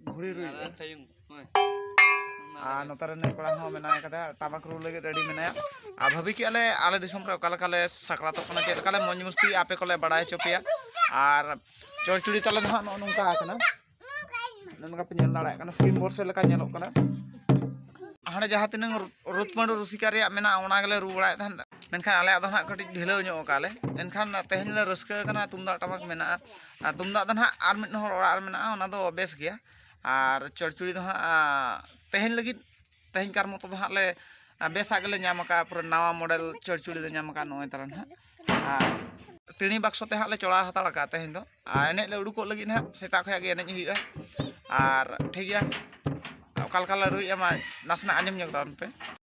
ᱜᱷᱩᱲᱤ ᱨᱩᱭ ᱟᱨ ᱱᱚᱛᱮ ᱨᱮ ᱱᱩᱭ ᱠᱚᱲᱟ ᱦᱚᱸ ᱢᱮᱱᱟᱭ ᱠᱟᱫᱟ ᱴᱟᱢᱟᱠ ᱨᱩ ᱞᱟᱹᱜᱤᱫ ᱨᱮᱰᱤ ᱢᱮᱱᱟᱭᱟ ᱟᱨ ᱵᱷᱟᱹᱵᱤ ᱠᱮᱜᱼᱟ ᱞᱮ ᱟᱞᱮ ᱫᱤᱥᱚᱢ ᱨᱮ ᱚᱠᱟ ᱞᱮᱠᱟᱞᱮ ᱥᱟᱠᱨᱟᱛᱚᱜ ᱠᱟᱱᱟ ᱪᱮᱫ ᱞᱮᱠᱟᱞᱮ ᱢᱚᱡᱽ ᱢᱚᱥᱛᱤ ᱟᱯᱮ ᱠᱚᱞᱮ ᱵᱟᱲᱟᱭ ᱦᱚᱪᱚ ᱯᱮᱭᱟ ᱟᱨ ᱪᱚᱲᱪᱩᱲᱤ ᱛᱟᱞᱮ ᱫᱚ ᱦᱟᱸᱜ ᱱᱚᱜᱼᱚ ᱱᱚᱝᱠᱟ ᱟᱠᱟᱱᱟ ᱱᱚᱝᱠᱟ ᱯᱮ ᱧᱮᱞ ᱫᱟᱲᱮᱭᱟᱜ ᱠᱟᱱᱟ ᱥᱤᱢ ᱵᱚᱨᱥᱮ ᱞᱮᱠᱟ ᱧᱮᱞᱚᱜ ᱠᱟᱱᱟ ᱦᱟᱸᱰᱮ ᱡᱟᱦᱟᱸ ᱛᱤᱱᱟᱹᱝ ᱨᱩᱛᱢᱟᱹᱰᱩ ᱨᱩᱥᱤᱠᱟ ᱨᱮᱭᱟᱜ ᱢᱮᱱᱟᱜᱼᱟ ᱚᱱᱟ ᱜᱮᱞᱮ ᱨᱩ ᱵᱟᱲᱟᱭᱮᱫ ᱛᱟᱦᱮᱸᱫ ᱢᱮᱱᱠᱷᱟᱱ ᱟᱞᱮᱭᱟᱜ ᱫᱚ ᱦᱟᱸᱜ ᱠᱟᱹᱴᱤᱡ ᱰᱷᱤᱞᱟᱹᱣ ᱧᱚᱜ ᱟᱠᱟᱫ ᱞᱮ ᱮᱱᱠᱷᱟᱱ ᱛᱮᱦᱮᱧ ᱞᱮ ᱨᱟᱹᱥᱠᱟᱹ ᱟᱠᱟᱱᱟ ᱛᱩᱢᱫᱟᱜ ᱴᱟᱢᱟᱠ ᱢᱮᱱᱟᱜᱼᱟ ᱟᱨ ᱛᱩᱢᱫᱟᱜ ᱫᱚ ᱦᱟᱸᱜ ᱟᱨ ᱢᱤᱫ ᱦᱚᱲ ᱚᱲᱟᱜ ᱨᱮ ᱢᱮᱱᱟᱜᱼᱟ ᱚᱱᱟ ᱫᱚ ᱵᱮᱥ ᱜᱮᱭᱟ ᱟᱨ ᱪᱚᱲᱪᱚᱲᱤ ᱫᱚ ᱦᱟᱸᱜ ᱛᱮᱦᱮᱧ ᱞᱟᱹᱜᱤᱫ ᱛᱮᱦᱮᱧ ᱠᱟᱨ ᱢᱚᱛᱚ ᱫᱚ ᱦᱟᱸᱜ ᱞᱮ ᱵᱮᱥᱟᱜ ᱜᱮᱞᱮ ᱧᱟᱢ ᱠᱟᱜᱼᱟ ᱯᱩᱨᱟᱹ ᱱᱟᱣᱟ ᱢᱚᱰᱮᱞ ᱪᱚᱲᱪᱚᱲᱤ ᱞᱮ ᱧᱟᱢ ᱠᱟᱜᱼᱟ ᱱᱚᱜᱼᱚᱭ ᱛᱟᱞᱟᱝ ᱦᱟᱸᱜ ᱟᱨ ᱴᱮᱬᱤ ᱵᱟᱠᱥᱚ ᱛᱮ ᱦᱟᱸᱜ ᱞᱮ ᱪᱚᱲᱟᱣ ᱦᱟᱛᱟᱲ ᱠᱟᱜᱼᱟ ᱛᱮᱦᱮᱧ ᱫᱚ ᱟᱨ ᱮᱱᱮᱡ ᱞᱮ ᱩᱰᱩᱠᱚᱜ ᱞᱟᱹᱜᱤᱫ ᱦᱟᱸᱜ ᱥᱮᱛᱟᱜ ᱠᱷᱚᱱᱟᱜ ᱜᱮ ᱮᱱᱮᱡ ᱦᱩᱭᱩᱜᱼᱟ ᱟᱨ ᱴᱷᱤᱠ ᱜᱮᱭᱟ ᱚᱠᱟ ᱞᱮᱠᱟ ᱞᱮ ᱨᱩᱭᱮᱜᱼᱟ ᱢᱟ ᱱᱟᱥᱮᱱᱟᱜ ᱟᱸᱡᱚᱢ ᱧᱚᱜᱽ ᱛᱟᱵᱚᱱ ᱯᱮ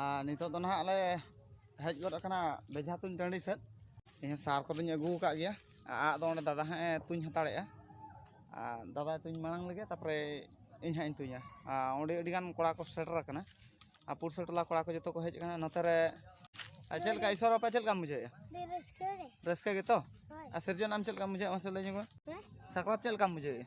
ᱟᱨ ᱱᱤᱛᱚᱜ ᱫᱚ ᱱᱟᱦᱟᱜ ᱞᱮ ᱦᱮᱡ ᱜᱚᱫ ᱟᱠᱟᱱᱟ ᱵᱮᱡᱷᱟ ᱛᱩᱧ ᱴᱟᱺᱰᱤ ᱥᱮᱫ ᱤᱧ ᱦᱚᱸ ᱥᱟᱨ ᱠᱚᱫᱚᱧ ᱟᱹᱜᱩ ᱟᱠᱟᱫ ᱜᱮᱭᱟ ᱟᱜ ᱫᱚ ᱚᱸᱰᱮ ᱫᱟᱫᱟ ᱦᱟᱸᱜ ᱮ ᱛᱩᱧ ᱦᱟᱛᱟᱲᱮᱜᱼᱟ ᱟᱨ ᱫᱟᱫᱟᱭ ᱛᱩᱧ ᱢᱟᱲᱟᱝ ᱞᱮᱜᱮ ᱛᱟᱨᱯᱚᱨᱮ ᱤᱧ ᱦᱟᱸᱜ ᱤᱧ ᱛᱩᱧᱟ ᱟᱨ ᱚᱸᱰᱮ ᱟᱹᱰᱤ ᱜᱟᱱ ᱠᱚᱲᱟ ᱠᱚ ᱥᱮᱴᱮᱨ ᱟᱠᱟᱱᱟ ᱟᱨ ᱯᱩᱲᱥᱤ ᱴᱚᱞᱟ ᱠᱚᱲᱟ ᱠᱚ ᱡᱚᱛᱚ ᱠᱚ ᱦᱮᱡ ᱟᱠᱟᱱᱟ ᱱᱚᱛᱮ ᱨᱮ ᱟᱨ ᱪᱮᱫ ᱞᱮᱠᱟ ᱤᱥᱚᱨ ᱵᱟᱯᱞᱟ ᱪᱮᱫ ᱞᱮᱠᱟᱢ ᱵᱩᱡᱷᱟᱹᱣᱮᱜᱼᱟ ᱟᱹᱰᱤ ᱨᱟᱹᱥᱠᱟᱹ ᱜᱮ ᱨᱟᱹᱥᱠᱟᱹ ᱜᱮᱛᱚ ᱦᱳᱭ ᱟᱨ ᱥᱤᱨᱡᱚᱱ ᱟᱢ ᱪᱮᱫ ᱞᱮᱠᱟᱢ ᱵᱩᱡᱷᱟᱹᱣᱮᱜᱼᱟ ᱢᱟᱥᱮ ᱞᱟᱹᱭ ᱧᱚᱜᱽ ᱢᱮ ᱦᱮᱸ ᱥᱟᱠᱨᱟᱛ ᱪᱮᱫ ᱞᱮᱠᱟᱢ ᱵᱩᱡᱷᱟᱹᱣᱮᱜᱼᱟ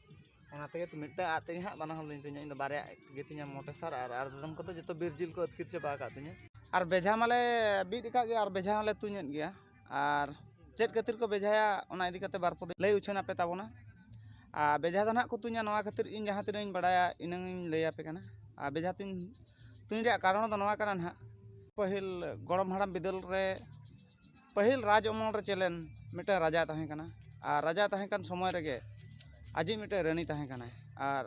ᱚᱱᱟ ᱛᱮᱜᱮ ᱛᱚ ᱢᱤᱫᱴᱟᱝ ᱟᱜ ᱛᱮᱜᱮ ᱦᱟᱸᱜ ᱵᱟᱱᱟ ᱦᱚᱲ ᱞᱤᱧ ᱛᱩᱧᱟ ᱤᱧᱫᱚ ᱵᱟᱨᱭᱟ ᱟᱜ ᱜᱮᱛᱤᱧᱟ ᱢᱚᱴᱮ ᱥᱟᱨ ᱟᱨ ᱟᱨ ᱫᱚᱢ ᱠᱚᱫᱚ ᱡᱚᱛᱚ ᱵᱤᱨ ᱡᱤᱞ ᱠᱚ ᱟᱹᱛᱠᱤᱨ ᱪᱟᱵᱟ ᱟᱠᱟᱫ ᱛᱤᱧᱟᱹ ᱟᱨ ᱵᱮᱡᱷᱟ ᱢᱟᱞᱮ ᱵᱤᱫ ᱟᱠᱟᱫ ᱜᱮᱭᱟ ᱟᱨ ᱵᱮᱡᱷᱟ ᱦᱚᱸᱞᱮ ᱛᱩᱧᱮᱫ ᱜᱮᱭᱟ ᱟᱨ ᱪᱮᱫ ᱠᱷᱟᱹᱛᱤᱨ ᱠᱚ ᱵᱮᱡᱷᱟᱭᱟ ᱚᱱᱟ ᱤᱫᱤ ᱠᱟᱛᱮᱫ ᱵᱟᱨ ᱯᱮ ᱫᱤᱱ ᱞᱟᱹᱭ ᱩᱪᱷᱟᱹᱱ ᱟᱯᱮ ᱛᱟᱵᱚᱱᱟ ᱟᱨ ᱵᱮᱡᱷᱟ ᱫᱚ ᱦᱟᱸᱜ ᱠᱚ ᱛᱩᱧᱟ ᱱᱚᱣᱟ ᱠᱷᱟᱹᱛᱤᱨ ᱤᱧ ᱡᱟᱦᱟᱸ ᱛᱤᱱᱟᱹᱜ ᱤᱧ ᱵᱟᱲᱟᱭᱟ ᱤᱱᱟᱹᱝ ᱤᱧ ᱞᱟᱹᱭ ᱟᱯᱮ ᱠᱟᱱᱟ ᱟᱨ ᱵᱮᱡᱷᱟ ᱛᱩᱧ ᱛᱩᱧ ᱨᱮᱭᱟᱜ ᱠᱟᱨᱚᱱ ᱫᱚ ᱱᱚᱣᱟ ᱠᱟᱱᱟ ᱦᱟᱸᱜ ᱯᱟᱹᱦᱤᱞ ᱜᱚᱲᱚᱢ ᱦᱟᱲᱟᱢ ᱵᱤᱫᱟᱹᱞ ᱨᱮ ᱯᱟᱹᱦᱤᱞ ᱨᱟᱡᱽ ᱟᱢᱚᱞ ᱨᱮ ᱪᱮᱫ ᱞᱮᱱ ᱢᱤᱫᱴᱟᱱ ᱨᱟᱡᱟᱭ ᱛᱟᱦᱮᱸ ᱠᱟᱱᱟ ᱟᱨ ᱨᱟᱡᱟᱭ ᱛᱟᱦᱮᱸ ᱠᱟᱱ ᱥᱚᱢᱚᱭ ᱨᱮᱜᱮ ᱟᱡᱤᱡ ᱢᱤᱫᱴᱮᱱ ᱨᱟᱹᱱᱤ ᱛᱟᱦᱮᱸ ᱠᱟᱱᱟᱭ ᱟᱨ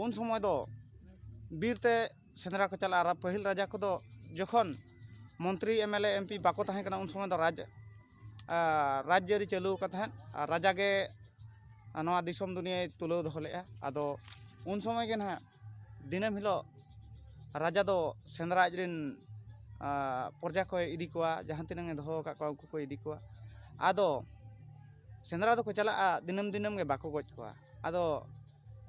ᱩᱱ ᱥᱚᱢᱚᱭ ᱫᱚ ᱵᱤᱨ ᱛᱮ ᱥᱮᱸᱫᱽᱨᱟ ᱠᱚ ᱪᱟᱞᱟᱜᱼᱟ ᱟᱨ ᱯᱟᱹᱦᱤᱞ ᱨᱟᱡᱟ ᱠᱚᱫᱚ ᱡᱚᱠᱷᱚᱱ ᱢᱚᱱᱛᱨᱤ ᱮᱢᱮᱞᱮ ᱮᱢᱯᱤ ᱵᱟᱠᱚ ᱛᱟᱦᱮᱸ ᱠᱟᱱᱟ ᱩᱱ ᱥᱚᱢᱚᱭ ᱫᱚ ᱨᱟᱡᱽ ᱨᱟᱡᱽᱼᱟᱹᱨᱤ ᱪᱟᱹᱞᱩ ᱟᱠᱟᱱ ᱛᱟᱦᱮᱸᱫ ᱟᱨ ᱨᱟᱡᱟ ᱜᱮ ᱱᱚᱣᱟ ᱫᱤᱥᱚᱢ ᱫᱩᱱᱤᱭᱟᱹᱭ ᱛᱩᱞᱟᱹᱣ ᱫᱚᱦᱚ ᱞᱮᱫᱼᱟ ᱟᱫᱚ ᱩᱱ ᱥᱚᱢᱚᱭ ᱜᱮ ᱱᱟᱦᱟᱜ ᱫᱤᱱᱟᱹᱢ ᱦᱤᱞᱳᱜ ᱨᱟᱡᱟ ᱫᱚ ᱥᱮᱸᱫᱽᱨᱟ ᱟᱡ ᱨᱮᱱ ᱯᱨᱚᱡᱟ ᱠᱚᱭ ᱤᱫᱤ ᱠᱚᱣᱟ ᱡᱟᱦᱟᱸ ᱛᱤᱱᱟᱹᱝ ᱮ ᱫᱚᱦᱚ ᱟᱠᱟᱫ ᱠᱚᱣᱟ ᱩᱱᱠᱩ ᱠᱚᱭ ᱤᱫᱤ ᱠᱚᱣᱟ ᱟᱫᱚ ᱥᱮᱸᱫᱽᱨᱟ ᱫᱚᱠᱚ ᱪᱟᱞᱟᱜᱼᱟ ᱫᱤᱱᱟᱹᱢ ᱫᱤᱱᱟᱹᱢ ᱜᱮ ᱵᱟᱠᱚ ᱜᱚᱡ ᱠᱚᱣᱟ ᱟᱫᱚ